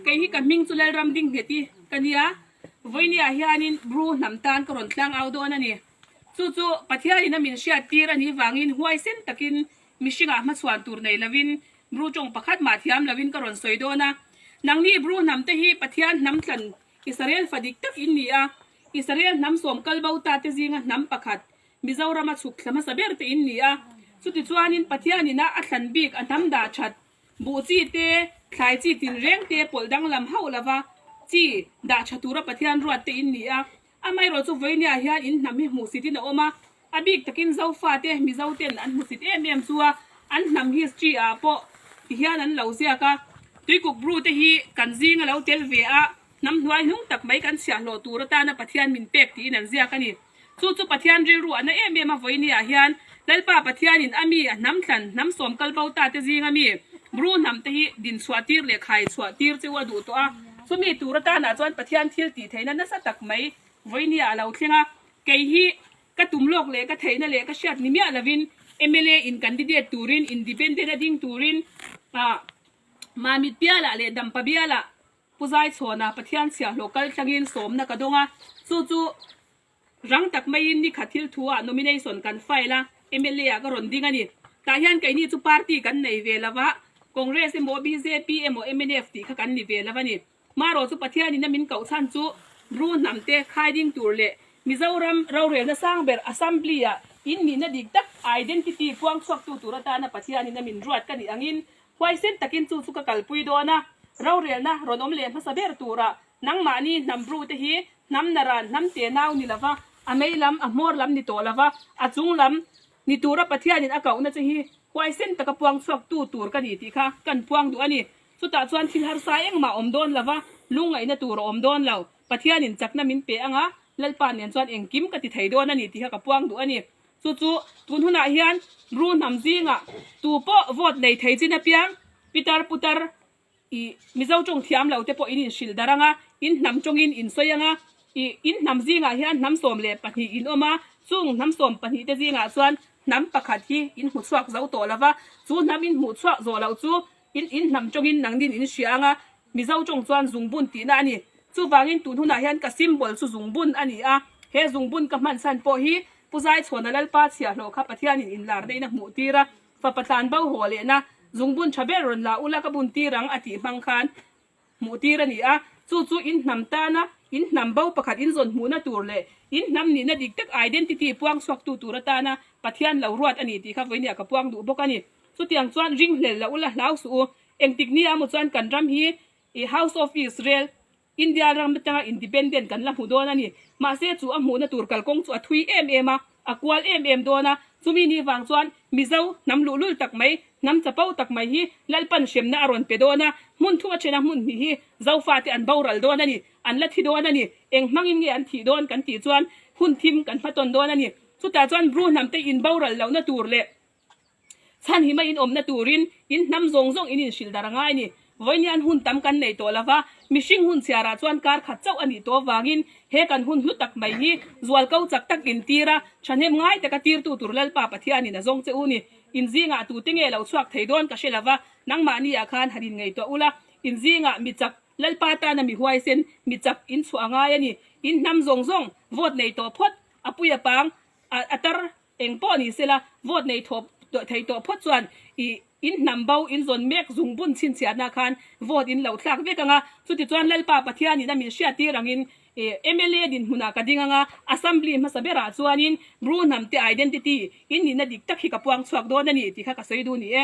Kei hi ka hming chu Lalram Dinghneti ka nia. Vawinia hianin Bru hnam tan ka rawn tlang au dawn a ni. Chu chu Pathianin a min hriat tir a nih vangin huaisen takin mihringah hmachhuan tur nei lovin Bru tawng pakhat mah thiam lovin ka rawn sawi dawn a. Nangni Bru hnamte hi Pathian hnam tlan Israel fadik tak in ni a. Israel hnam sawm kal bo ta te zinga hnam pakhat Mizoram a chhuk thla hmasa ber te in ni a. Chutichuanin Pathianin a a thlan bik a hnam dah that. Buh chi te, thlai chi tinreng te pawlh danglam hauh lova chi dah tha tura Pathian ruat te in ni a. Amaherawh chu vawinia hian in hnam hi hmuhsitin a awm a. A bik takin Zofa te, Mizo ten an hmuhsit em em chu a, an hnam history ah pawh ti hian an lo ziak a. Tuikuk Bru te hi kan zing a lo tel ve a, hnam hnuai hnung tak mai kan chhiahhlawh tur atana Pathian min pek tiin an ziak a ni. Chu chu Pathian rilruahna em em a vawinia hian Lalpa Pathianin a mi a hnam thlan, hnam sawm kal bo ta te zinga mi bru hnam te hi din chhuah tir leh khai chhuah tir chu a duh tawh a. Chumi tur atanah chuan Pathian thil tih theihna nasa tak mai vawinia a lo thleng a. Kei hi ka tum lawk leh ka theihna leh ka hriat ni miah lovin mla in candidate turin independent a ding turin Mamit bialah leh Dampa bialah, Pu Zaichhawna Pathian chhiahhlawh kal tlangin sawmna ka dawng a, chu chu rang tak maiin nikhat thil thuah nomination kan file a, mla ah ka rawn ding a ni. Tah hian keini chu party kan nei ve lo va, Congress emaw, bjp emaw, mnf tih kha kan ni ve lo a ni. Marawh chu Pathian in a min koh chhan chu ru hnam te khai ding tur leh Mizoram rorelna sang ber Assembly ah in nihna dik tak identity puang chhuak tu tur atana Pathian in a min ruat ka nih angin Huaisen takin chu chu ka kalpui dawn a, rorelna rawn awm leh hmasa ber tura nangmahni hnam brute hi hnam na ran hnam te nau ni lova, a mei lam, a hmawr lam ni tawh lova, a chung lam ni tura Pathianin a kauhna che hi huaisen taka puang chhuak tu tur ka ni tih kha kan puang duh a ni. Chutah chuan thil harsa engmah awm dawn lova, lungngaihna tur a awm dawn lo, Pathianin chakna min pe anga Lalpa nen chuan engkim ka ti thei dawn a ni tih kha ka puang duh a ni. Chu chu tun hunah hian ru hnam zinga tu pawh vote nei thei chin apiang pitar putar ih Mizo ṭawng thiam lo te pawhin inhrilh darh anga in hnam ṭawngin in sawi anga ih in hnam zingah hian hnam sawm leh pahnih in awm a, chung hnam sawm pahnih te zingah chuan hnam pakhat hi in hmu chhuak zo tawh lova chu hnam in hmuh chhuak zawh loh chu In in hnam tawngin nang nin in hria anga, Mizo tawng chuan zungbun tihna a ni. Chuvangin tunhunah hian ka symbol chu zungbun a ni a. He zungbun ka hmansan pawh hi Pu Zaichhuana Lalpa chhiahhlawh kha Pathianin inlar neihna hmuh tir a, Fapa tlanbo haw lehna, zungbun tha ber rawn la ula ka bun tir ang a tih hmang khan hmuh tir a ni a, chu chu in hnam tana in hnam bo pakhat in zawn hmuhna tur leh in hnam nihna dik tak identity puang chhuaktu tur atana Pathian lo ruat a ni tih kha vawinia ka puang duh bawk a ni. Chutiang chuan ring hlel la u la hlau suh u, engtik nia maw chuan kan ram hi i House of Israel, India ram atanga independent kan la hmu dawn a ni, mahse chu a hmuhna tur kalkawng chu a thui em em a, A kual em em dawn a, chumi ni vang chuan Mizo hnam luh lul tak mai, hnam chapau tak mai hi Lalpan hremna a rawn pe dawn a, hmun thum a then a hmun hnih hi Zofa te an boral dawn a ni, an la thi dawn a ni, eng hmangin nge an thih dawn kan tih chuan hun thim kan hmatawn dawn a ni. Chutah chuan Bru hnam te in boral lohna tur leh Chhan hi mai in awmna turin in hnam zawng zawng in inhrilh darh anga i ni. Vawiinian hun tam kan nei tawh lova, mihring hun chhiarah chuan kar khat chauh a nih tawh avangin he kan hun hlu tak mai hi zual ko chak tak in tir a, thahnem ngai taka tirtu tur Lalpa Pathianin a zawng che u ni. In zingah tute nge lo chhuak thei dawn ka hre lova, nangmahniah khan han inngeih tawh ula, in zingah mi chak Lalpa tana mi huaisen mi chak in chhuah a ngai a ni. In hnam zawng zawng vawt nei tawh phawt, a pui a pang a tar Eng pawh ni sela vote nei thawh thei tawh phawt chuan i in hnam bo, in zawn mek zung bun chhinchhiatna khan vote in lo thlak vek anga, chutichuan Lalpa Pathianin a min hriattir angin i mla dinhmunah ka ding anga Assembly hmasa berah chuanin Bru hnamte identity in nihna dik tak hi ka puang chhuak dawn a ni ti kha ka sawi dun ni e.